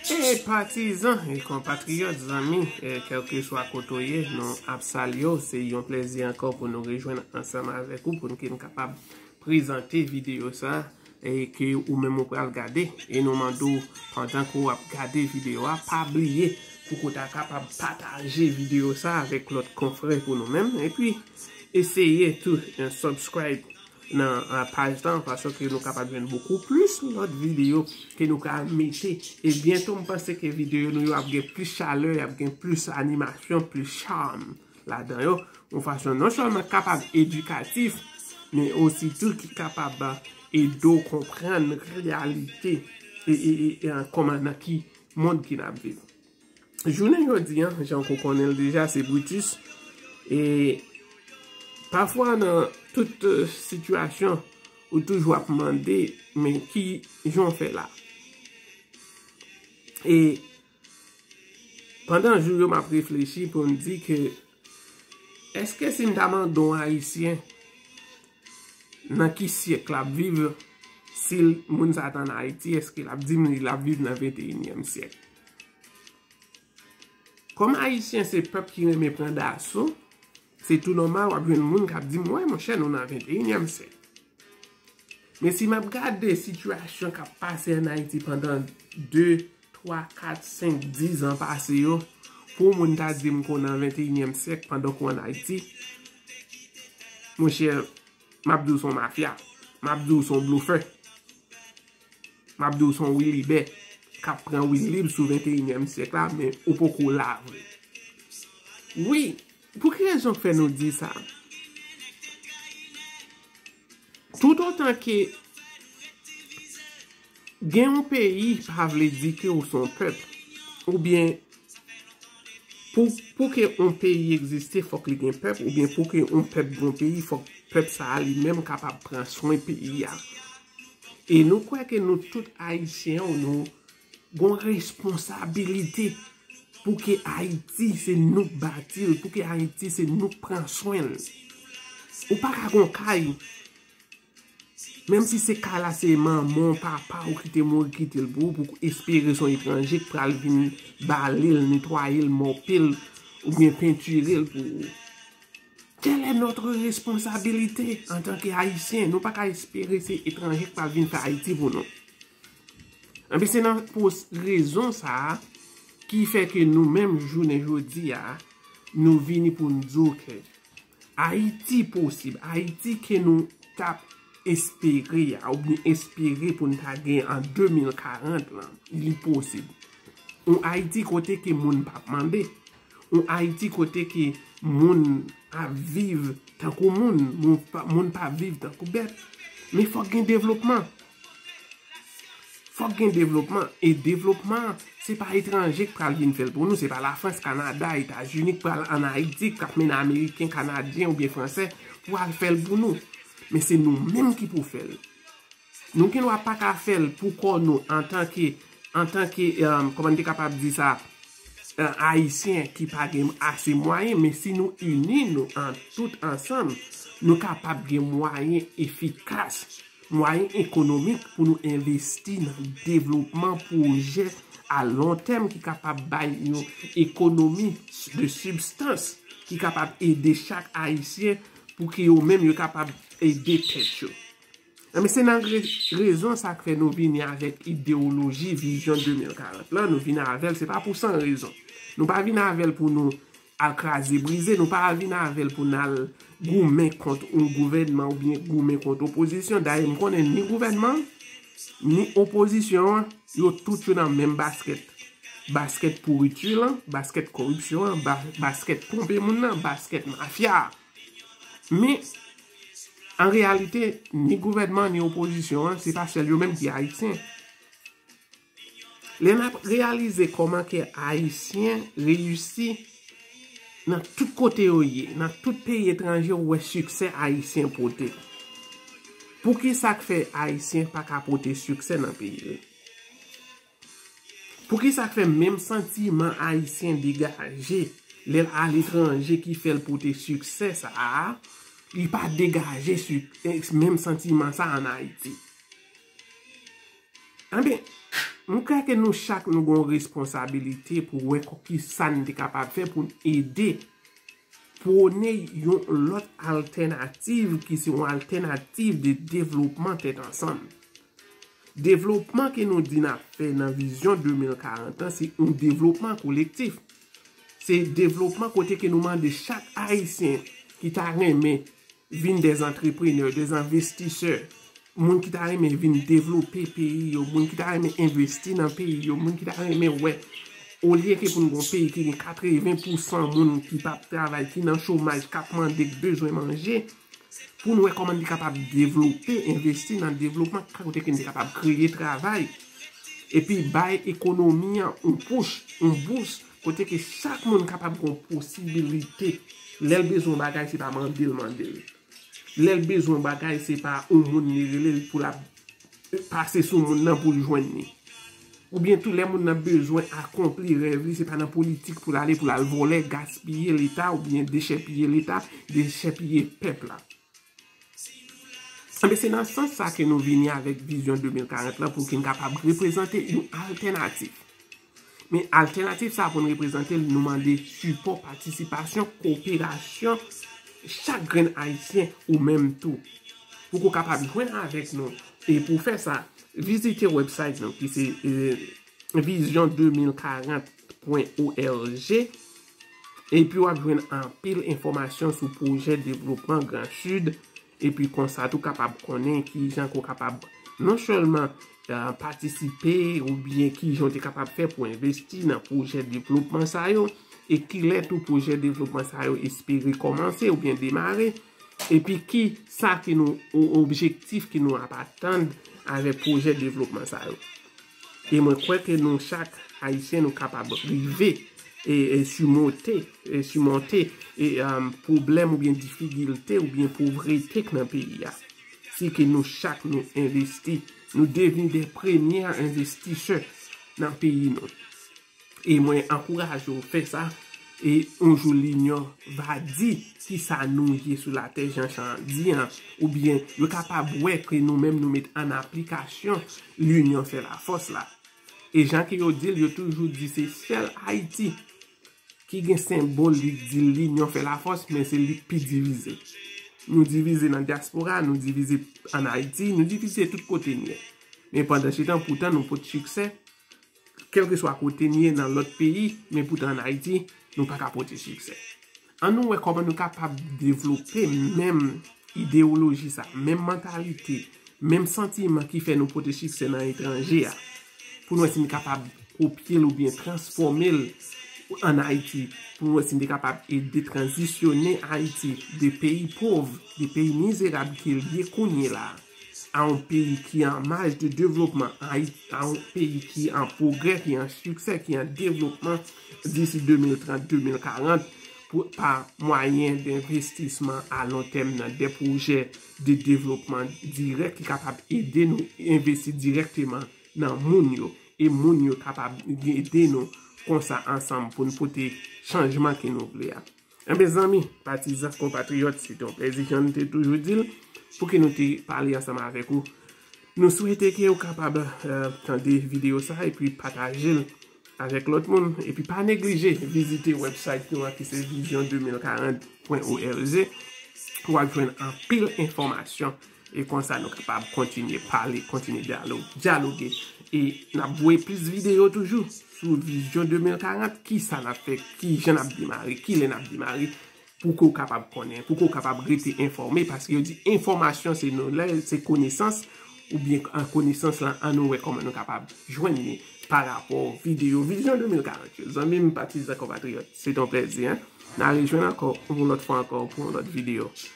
Hey patizan e konpatriyòt, zanmi, kèlkeswa kote ou ye, nou ap salye ou. Se yon plezi ankò pou nou rejwenn ansanm avèk ou pou nou te kapab prezante videyo sa e ke ou menm ou pral gade. E nou mande ou, pandan ke ou ap gade videyo a, pa bliye pou ke ou ta kapab pataje videyo sa avèk lòt konfrè pou nou menm. E pi, eseye tou, subscribe. nan paj lan paske nou kapab jwenn bokou plis lòt videyo ke nou ka mete e byento m panse ke videyo nou yo ap gen plis chalè y ap gen plis animasyon plis charm ladan yo yon fason non sèlman kapab edikatif men osi tou ki kapab ede w konprann reyalite e kòman nan ki mond ki n ap viv. Jounen jodi an, jan kou konnen l deja, se Brutus. E pafwa nan tout sitiyasyon, ou toujou ap mande, men ki jan w fè la? E pandan jou yo m ap reflechi pou m di ke eske si m ta mande yon Ayisyen nan ki syèk l ap viv, si moun sa t an Ayiti, eske l ap di m li l ap viv nan venteyinyèm syèk? Kòm Ayisyen se pèp ki renmen pran daso, se tou nòmal w ap jwenn moun k ap di m, wè monchè nou nan venteyinyèm syèk. Men si m ap gade sitiyasyon k ap pase an Ayiti pandan 2, 3, 4, 5, 10 an pase yo, pou moun ta di m kou nan venteyinyèm syèk pandan kou an Ayiti, monchè m ap di w son mafya, m ap di w son blofè. Map diw son wilibè kap pran wilib sou 21 nyèm syèk la men ou poko la vre wi pou ki rezon k fè nou di sa tout otan ke gen yon peyi pa vle di ke ou son pèp ou byen pou ke yon peyi egziste fòk li gen pèp ou byen pou ke yon pèp gen yon peyi fòk pèp sa li menm kapab pran swen peyi a E nou kwè ke nou tout Ayisyen ou nou gon responsabilite pou ke Ayiti se nou k bati l, pou ke Ayiti se nou k pran swen l. Ou pa ka gon kay, menm si se kay la se manman ou, papa ou ki te mouri kite l pou ou, pou ou espere son etranje k pral vin bale l, netwaye l, mope l, oubyen pentire l pou ou. Tèl è nòtre responsabilite antanke Ayisyen. Nou pa ka espere se etranje k pral vin fè Ayiti pou nou. Anben se nan pou rezon sa a ki fè ke nou menm jounen jodi a nou vini pou n di w ke Ayiti posib, Ayiti ke nou t ap espere a ou byen espere pou n ta gen an 2040 lan li posib. Yon Ayiti kote ke moun p ap mande. Yon Ayiti kote ke moun ap viv tankou moun, moun pa ap viv tankou bèt. Men fòk gen devlopman. Fòk gen devlopman. E devlopman, se pa etranje k pral vin fè l pou nou. Se pa Lafrans, Kanada, Etazini k pral an Ayiti, k ap mennen Ameriken, Kanadyen oubyen Fransè pou al fè l pou nou. Men se nou menm ki pou fè l. Nou gen dwa pa ka fè l pou kò nou antanke, antanke, kòman m te kapab di sa, Ayisyen ki pa gen ase mwayen, men si nou ini nou an tout ansanm, nou kapab gen mwayen efikas, mwayen ekonomik pou nou envesti nan devlopman pwojè a lon tèm ki kapab bay yon ekonomi de sibstans ki kapab ede chak Ayisyen pou ki yo menm yo kapab ede tèt yo. Enben se nan rezon sa k fè nou vini avèk idewoloji vizyon 2040 lan, nou vini avè l se pa pou san rezon. Nou pa vini avè l pou nou al kraze brize, nou pa vini avè l pou n al goumen kont yon gouvènman oubyen goumen kont opozisyon. Dayè m konnen ni gouvènman an, ni opozisyon an, yo tout yo nan menm baskèt. Baskèt pouriti lan, baskèt koripsyon an, baskèt twonpe moun nan, baskèt mafya a. Men, an reyalite, ni gouvènman ni opozisyon an, se pa sèl yo menm ki Ayisyen. Lè n ap reyalize kòman ke Ayisyen reyisi nan tout kote yo ye, nan tout peyi etranje ou wè siksè Ayisyen pote. Poukisa k fè Ayisyen pa ka pote siksè nan peyi l? Poukisa k fè menm santiman Ayisyen degaje lè l aletranje ki fè l pote siksè sa a, li pa degaje menm santiman sa a an Ayiti? Enben, m kwè ke nou chak nou gen yon responsabilite pou wè kisa n te kapab fè pou n ede pwone yon lòt altènativ ki se yon altènativ de devlopman tèt ansanm. Devlopman ke nou di nap fè nan vizyon 2040 an se yon devlopman kolektif. Se devlopman kote ke nou mande chak ayisyen ki ta renmen vin de antreprenè, de anvestisè, moun ki ta renmen vin devlope peyi yo, moun ki ta renmen envesti nan peyi yo, moun ki ta renmen wè olye ke pou nou gon peyi ki gen 80% moun ki pap travay, ki nan chomaj, kap mande, ki bezwen manje. pou nou wè kòman li kapab devlope, envesti nan devlopman sa kote ke li kapab kreye travay, epi bay ekonomi an yon pouch, yon bous, kote ke chak moun kapab gon posibilite, lè l bezwen yon bagay se pa mande l mande l, lè l bezwen yon bagay se pa yon moun li rele l pou l ap. pase sou moun nan pou l jwenn li. Oubyen tou lè moun nan bezwen akonpli rèv li se pa nan politik pou l ale pou l al vòlè, gaspiye leta oubyen dechèpiye leta, dechèpiye pèp la. Enben se nan sans sa ke nou vini avèk vizyon 2040 lan pou ki n kapab reprezante yon altènatif. Men altènativ sa a pou n reprezante l, nou mande sipò, patisipasyon, koperasyon chak grenn Ayisyen, ou menm tou. Pou ke w kapab jwenn avèk nou, e pou w fè sa, vizite wèbsayt nou ki se vizyon 2040 pwen org, epi w ap jwenn anpil enfòmasyon sou pwojè devlopman Gran Sid. Epi konsa tou kapab konnen ki jan ke w kapab non sèlman patisipe ou byen ki jan w te kapab fè pou envesti nan pwojè devlopman sa yo e ki lè tou pwojè devlopman sa yo espere kòmanse ou byen demare epi ki sa ki nou objektif ki nou ap atann avèk pwojè devlopman sa yo. E mwen kwè ke nou chak Ayisyen nou kapab rive simote, simonte pwoblèm oubyen difigilte oubyen povrete k nan peyi a. Si ke nou chak nou envesti, nou devni de premye envestisè nan peyi nou. E mwen ankouraje w fè sa, e yon jou linyon va di ki sa nou ye sou latè jan chan an di an, oubyen yo kapab wè ke nou menm nou met an aplikasyon linyon fè lafòs la. E jan ke yo di l, yo toujou di se sèl Ayiti ki gen senbòl li k di linyon fè lafòs, men se li k pi divize. Nou divize nan dyaspora, nou divize an Ayiti, nou divize tout kote n ye. Men pandansetan poutan nou pot siksè. Kèlkeswa kote n ye nan lòt peyi, men poutan an Ayiti, nou pa ka pote siksè. An nou wè kòman nou kapab devlope menm ideyoloji sa, menm mantalite, menm santiman ki fè nou pote siksè nan etranje a, pou n wè si n kapab kopye l oubyen transfòme l an Ayiti, pou n wè si n te kapab ede tranzisyone Ayiti de peyi pov, de peyi mizerab ke l ye kounyela a. a yon peyi ki an maj de devlopman, a yon peyi ki an pwogrè, ki an siksè, ki an devlopman disi 2030-2040 pa mwayen de envestisman a lon tèm nan de pwojè de devlopman dirèk ki kapab ede nou envesti dirèkteman nan moun yo. E moun yo kapab ede nou konsa ansanm pou nou pote chanjman ke nou vle a. Enben zanmi, patizan, konpatriyòt, se te yon plezi jan nou te toujou di l pou ki nou te pale ansanm avèk ou. Nou swete ke ou kapab tande videyo sa epi pataje l avèk lòt moun. Epi pa neglije vizite website nou an ki se vision 2040.org pou wap jwenn anpil enfòmasyon. E konsa nou kapab kontinye pale, kontinye dyaloge. E n ap voye plis videyo toujou sou vizyon 2040. Ki sa n ap fè? Ki jan n ap demare? Ki lè n ap demare? Pou ke w kapab konnen, pou ke w kapab rete enfòme. Paske yo di enfòmasyon se nou lè, se konesans. Ou byen an konesans lan an nou wè kòman nou kapab jwenn ni pa rapò videyo vizyon 2040 yo. Zanmi m, patizan, konpatriyòt, se te yon plèzi. N a rejwenn ankò yon lòt fwa ankò pou yon lòt videyo.